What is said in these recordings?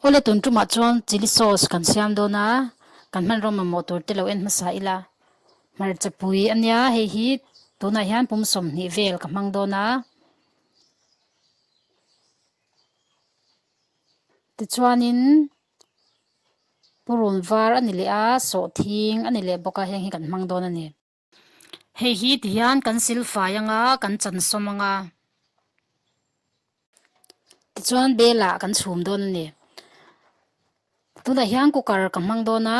Aw le tun tumah chuan chilli sauce kan siam dawn a, kan hmanraw mamawh tur te lo en hmasa ila. Hmarcha pui a nia hei hi, tunah hian pum sawmhnih vel ka hmang dawn a. Tichuanin purun var a ni leh a, sawhthing a ni leh bawk a, heng hi kan hmang dawn a ni. Hei hi ti hian kan sil fai ang a, kan chan sawm ang a. Tichuan belah kan chhum dawn a ni. Tunah hian cooker ka hmang dawn a,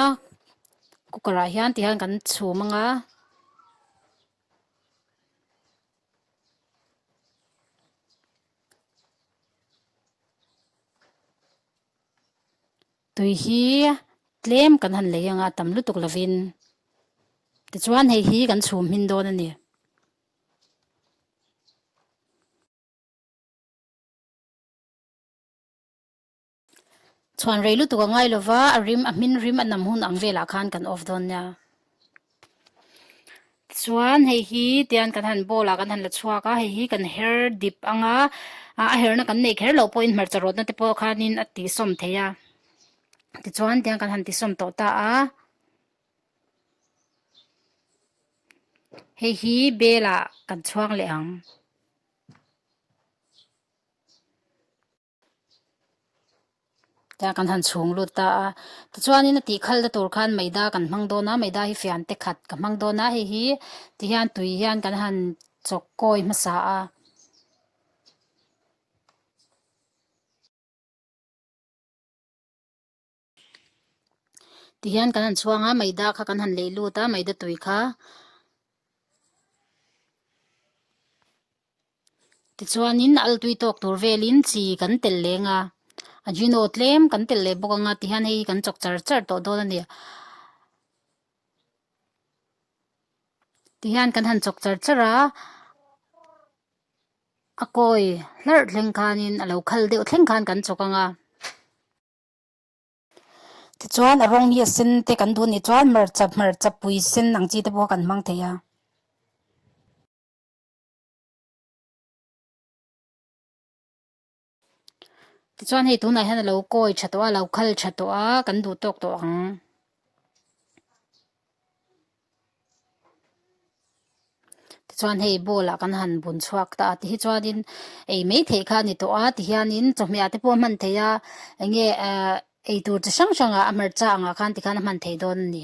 cooker ah hian ti hian kan chhum ang a. Tui hi tlem kan han lei anga tam lutuk lovin tichuan hei hi kan chhum hmin dawn a ni. Chhuan rei lutuk a ngai lova a rim a hmin rim a nam hun ang velah khan kan off dawn nia. chuan hei hi tian kan han ball a kan han la chhuak a hei hi kan her dip ang a ah a herna kan nei kher loh pawhin hmarcha rawtna te pawh khanin a tihsawm thei a tichuan tian kan han tihsawm tawh ta a hei hi bel ah kan chhuak leh ang. Tlai kan han chhung lut ta a. Tichuanin a tih khalh na tur khan Meida kan hmang dawn a, Meida hi fian te khat ka hmang dawn a, hei hi ti hian tui hian kan han chawk kawi hmasa a. Ti hian kan han chhuang a, Maida kha kan han lei lut a, Maida tui kha. Tichuanin a altui tawk tur velin chi kan tel leng a, a Gino tlem kan tel leh bawk anga, ti hian hei hi kan chawk char char tawh dawn a ni. Ti hian kan han chawk char char a, a kawi hlarh thleng khanin, a lo khal deuh thleng khan kan chawk ang a. Tichuan, rawng mi a sen te kan duh nih chuan hmarcha hmarcha pui sen ang chi te pawh kan hmang thei a. Tichuan, hei tunah hian a lo kawi tha tawh a, a lo khal tha tawh a, kan duh tawk tawh ang. Tichuan hei ball ah kan han bun chhuak ta a ti hi chuanin ei mai theih kha a ni tawh a ti hianin chawhmehah te pawh a hman thei a enge ehh ei tur chi hrang hrang ah a hmarcha ang ah khan ti khan a hman thei dawn a ni.